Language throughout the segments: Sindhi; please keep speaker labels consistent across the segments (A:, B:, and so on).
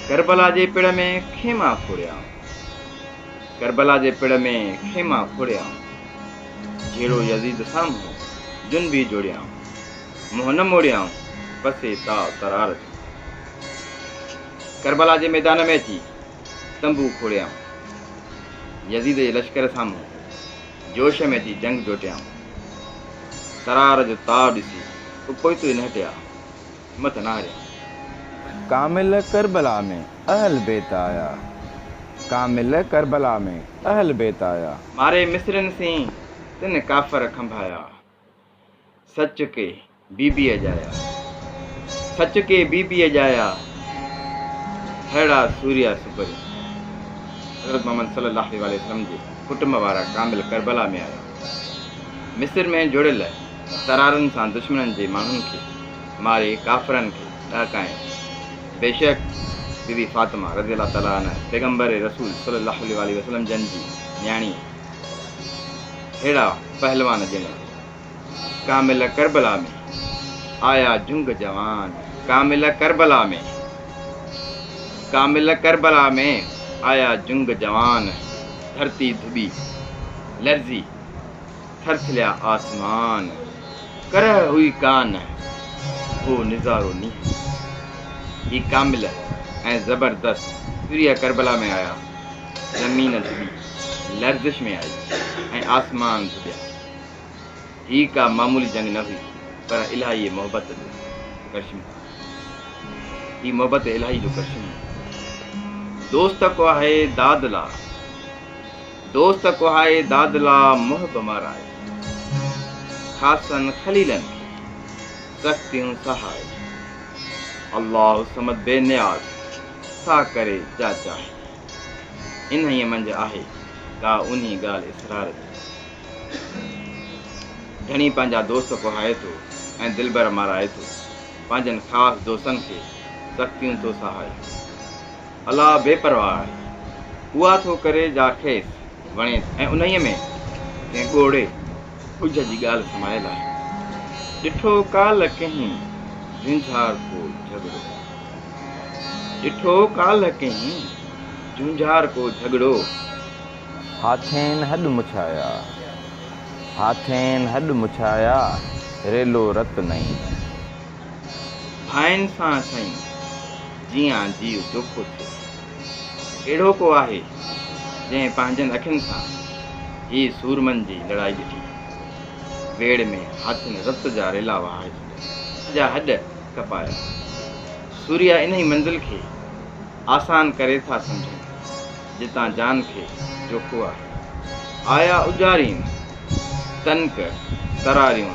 A: ڪربلا جي پڙ ۾ خيما کوڙيائون. ڪربلا جي پڙ ۾ خيما کوڙيائون. جهيڙو يزيد سامهون جنبي جوڙيائون. منهن نه موڙيائون پسي تاء ترار جو. ڪربلا جي ميدان ۾ اچي تنبو کوڙيائون. يزيد جي لشڪر سامهون جوش ۾ اچي جنگ جوٽيائون. ترار جو تاء ڏسي اپوئتو ئي نه هٽيا. همٿ نه هاريان. ڪامل
B: ڪربلا ۾ اهل بيت آيا. ڪامل ڪربلا ۾ اهل بيت آيا. ماري مصرين
A: سين تن ڪافر کنڀايا. سچ ڪي بي بي اجايا. سچ ڪي بي بي اجايا. ههڙا سوريا سپرين. حضرت محمد صلي الله عليه واٰله وسلم جي ڪٽنب وارا ڪامل ڪربلا ۾ آيا. مصر ۾ جڙيل. ترارن سان دشمنن جي ماڻهن کي ماري ڪافرن کي ڏهڪائين. بيشڪ بي بي فاطمه رضي الله تعالٰي عنها پيغمبر رسول صلّي اللّٰه عليه واٰله وسلّم جن جي نياڻي ههڙا پهلوان ڄڻ ڪامل ڪربلا ۾ آيا جهنگ جوان ڪامل ڪربلا ۾ ڪامل ڪربلا ۾ آيا جهنگ جوان ڌرتي ڌٻي لرزي ٿرٿليا آسمان، ڪرهه هئي ڪا نه، هو نظارو نينهن جو. هي ڪامل ۽ زبردست سوريه ڪربلا ۾ آيا، زمين ڌٻي، لرزش ۾ آئي ۽ آسمان ڌٻيا. هي ڪا معمولي جنگ نه هئي، پر الاهي محبت جو ڪرشمو هو. هي محبت الاهي جو ڪرشمو هو. دوست ڪو آهي داد لا. دوست ڪوهائي دادلا محب مارائي، خاصن خليلن کي سختيون سهائي، الله الصمد بي نياز سا ڪري جا چاهي، انهيء منجهه آهي ڪا انهي ڳالهه اسرار جي، ڌڻي پنهنجا دوست ڪوهائي ٿو ۽ دلبر مارائي ٿو، پنهنجن خاص دوستن کي سختيون ٿو سهائي. الله بي پرواهه آهي، اها ٿو ڪري جا کيس وڻيس ۽ انهيء ۾ ڪنهن ڳوڙهي ڳجهه جي ڳالهه سمايل آهي. ڏٺو ڪالهه ڪنهين جهونجهار ڪو جهڳڙو. ڏٺو ڪالهه ڪنهين جهونجهار ڪو جهڳڙو.
B: هاٿين هڏ مڇايا، هاٿين هڏ مڇايا، ريلو رت نئين. ڀائين
A: سان سائين جيان جيء جوکو ٿيو. ڪهڙو ڪو آهي جنهن پنهنجن اکين سان هي سورمن جي لڙائي ڏٺي. ويڙهه ۾ هاٿين رت جا ريلا وهائي ڇڏيا. سڄا هڏ ڪپايا. سوريا انهي منزل کي آسان ڪري ٿا سمجهن جتان جان کي جوکو آهي. آيا اجارين، تنڪ، تراريون،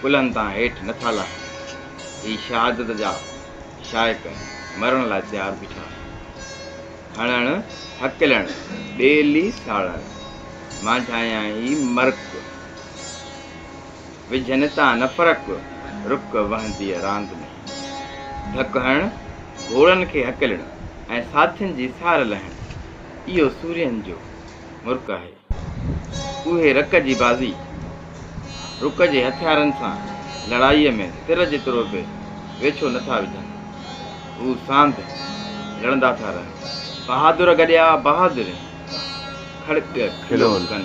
A: ڪلهن تان هيٺ نه ٿا لاهين. هي شهادت جا شائق مرڻ لاء تيار بيٺا آهن. هڻڻ، هڪلڻ، ٻيلي ساڙڻ، مانجهايان ئي مرڪ، وجهن تان نه فرق، رڪ وهنديء راند ۾. ڌڪ هڻڻ، گهوڙن کي هڪلڻ ۽ ساٿين جي سار لهڻ، اهو سورين جو مرڪ آهي. اهي رڪ جي بازي، رڪ جي هٿيارن سان لڙائيء ۾ تر جيترو به ويڇو نه ٿا وجهن. هو ساند لڙندا ٿا رهن. بهادر گڏيا بهادرين کڙڳ کلو ڪن.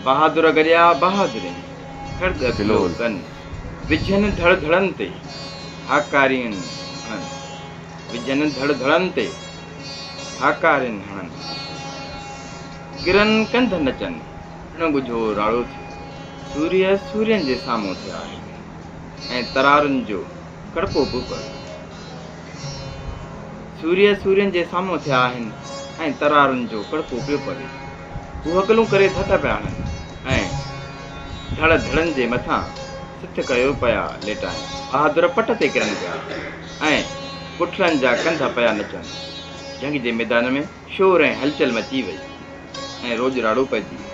A: بهادر گڏيا بهادرين کڙڳ کلو ڪن. وجهن ڌڙ ڌڙن تي هاڪاريون هڻن. وجهن ڌڙ ڌڙن تي. هاڪارين هڻن، ڪرن ڪنڌ نچن، اڻ ڳجهو راڙو ٿيو، سوريء سورين جي سامهون ٿي آهيو ۽ ترارن جو ڪڙپو به پويو. سوريء سورين جي سامهون ٿي آهن ۽ ترارن جو ڪڙپو پيو پوي. هو هڪلون ڪري ڌڪ پيا هڻن ۽ ڌڙ ڌڙن جي مٿان سٿ ڪيو پيا ليٽائين. بهادر پٽ تي ڪرن پيا. ۽ پٺلن جا ڪنڌ پيا نچن. جنگ جي ميدان ۾ شور ۽ هلچل مچي وئي ۽ روڄ راڙو پئجي ويو.